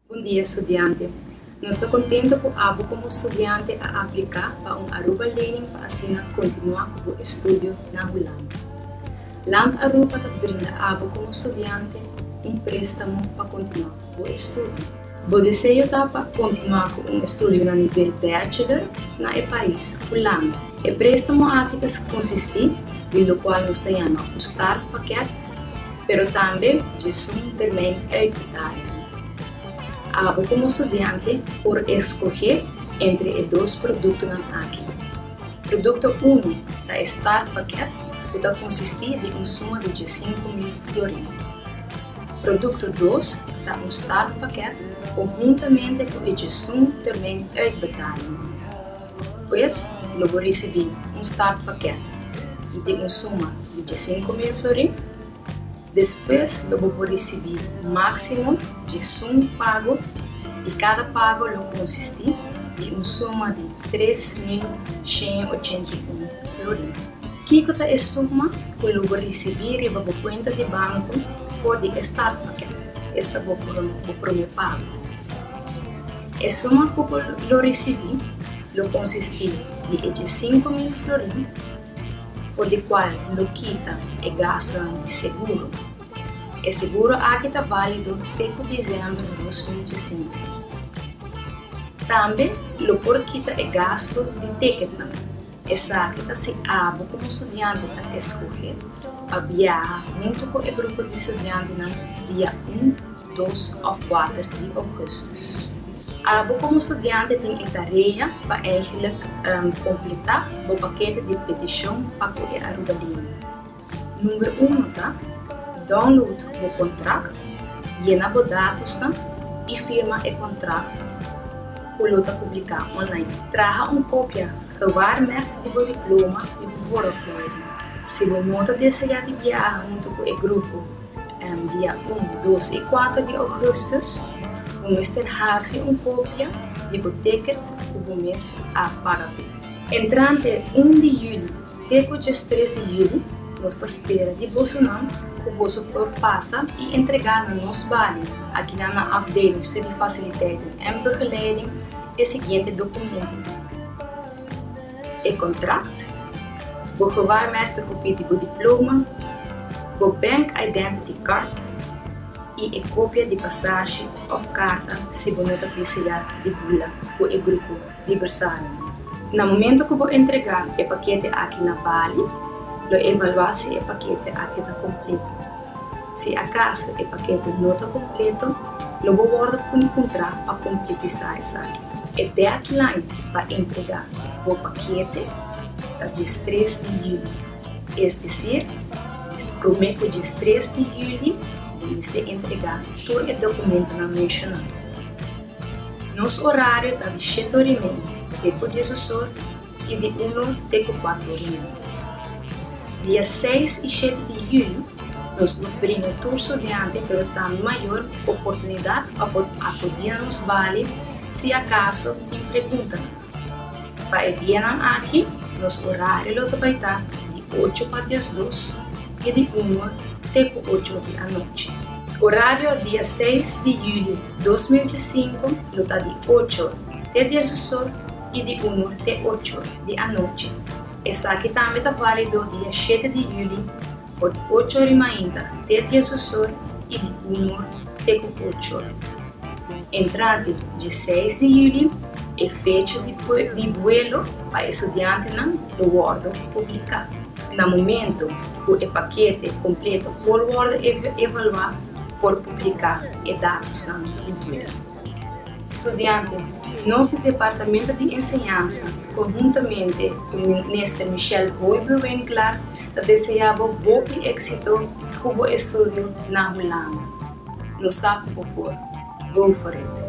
Bon dia estudiante. Nos ta contento cu abo como estudiante a aplica pa un Aruba Lening pa asina continua cu bo estudio na Hulanda. Land Aruba ta brinda abo como estudiante un prestamo pa continua cu bo estudio. Bo deseo ta pa continua cu un estudio na nivel bachelor na e pais Hulanda. E prestamo aki ta consisti di locual nos ta yama un startpakket. pero tambe djizun te men eikitari. Abo komo studiante por eskohé entre e dos produktonan aki. Produkto uno ta e start pakèt ku ta konsistí di un suma di djisinku mil florin. Produkto dos ta un start pakèt konhuntamente ku e djizun te men eikbetali. Pues, lo bo risibí un start pakèt di tin un suma di dje sinku mil florin. Despues lo bo por risibí máksimo dje sunk pago i kada pago lo konsistí di un suma di tres mil shen i ochenta i un florin. Kiko ta e suma ku lo bo risibí riba bo kuenta di banku for di e start pakèt? Esta bo promé pago. E suma ku bo lo risibí lo konsistí di e dje sinku mil florin, for di kual N lo kita e gastunan di seguro. E seguro aki ta válido te ku desèmber dos mil dje sinku. Tambe lo por kita e gastu di teketnan. Esaki ta si abo komo studiante ta eskohé pa biaha huntu ku e grupo di studiantenan dia un, dos òf kuater di ougùstus. Abo komo studiante tin e tarea pa eigenlik kompletá bo pakete di petishon pa ku e Arubalino. Number uno ta, download bo contract, yena bo datosnan y firma e contract cu lo ta publica online. Traha un copia gewaarmerkt di bo diploma y bo vooropleiding. Si bo no ta desea di biaha hunto cu e grupo dia un, dos y cuater di augustus, bo mester haci un copia di bo ticket cu bo mes a paga cu. Entrante un di juli Te ku dje stres di hidi, nos ta spera di bosonan ku boso por pasa i entregá na nos bali akinan na Afdeling Studiefaciliteiten en Begeleiding e siguiente dokumento, e kontrakt, bo gewaarmerkte kopie di bo diploma, bo Bank Identity Card i e kopia di pasashi òf karta si bo no ta desea di bula ku e grupo. di bersario. Na momento ku bo entregá e pakete aki na bali, lo evaluá si e pakete aki ta kompleto. Si akaso e pakete no ta kompleto, lo bo wòrdu puni puntrá pa kompletisá esaki. E deadline pa entregá bo pakete ta djes tres di yüli, es desir, es promé ku djes tres di yüli bo mester entregá tur e dokumentunan menshoná. Nos orario ta di shete ori e media te ku dies osor i di unu te ku kuatu ori media. Dia seis i shete di yuyu nos por bringa tur studiante pero tambe mayor oportunidat pa por akudia nos bali si akaso tin preguntanan. Pa e dianan aki, nos horario lo ta bai ta di ocho pa diasdos i di unu te ku ocho di anochi. Horario di a seis di julio dos mil diesinco lo ta di ocho te diesosó i di unu te ocho di anochi. Esaki tambe ta válido di a shete di julio for di ocho ori mainta te diesosor i di uno te ku ochor. Entrante dje seis di yuli e fecha di buelo pa estudiantenan lo wòrdu publiká. Na momentu ku e pakete kompleto por wòrdu evaluá, por publiká e datosnan di un vuelo. Studiante, Nos di Departamento di Enseñansa, konhuntamente ku Minister Michelle Boibe Winkler, ta deseá bo hopi éksito ku bo estudio na Hulanda. Lo sa ku bo por. Go for it!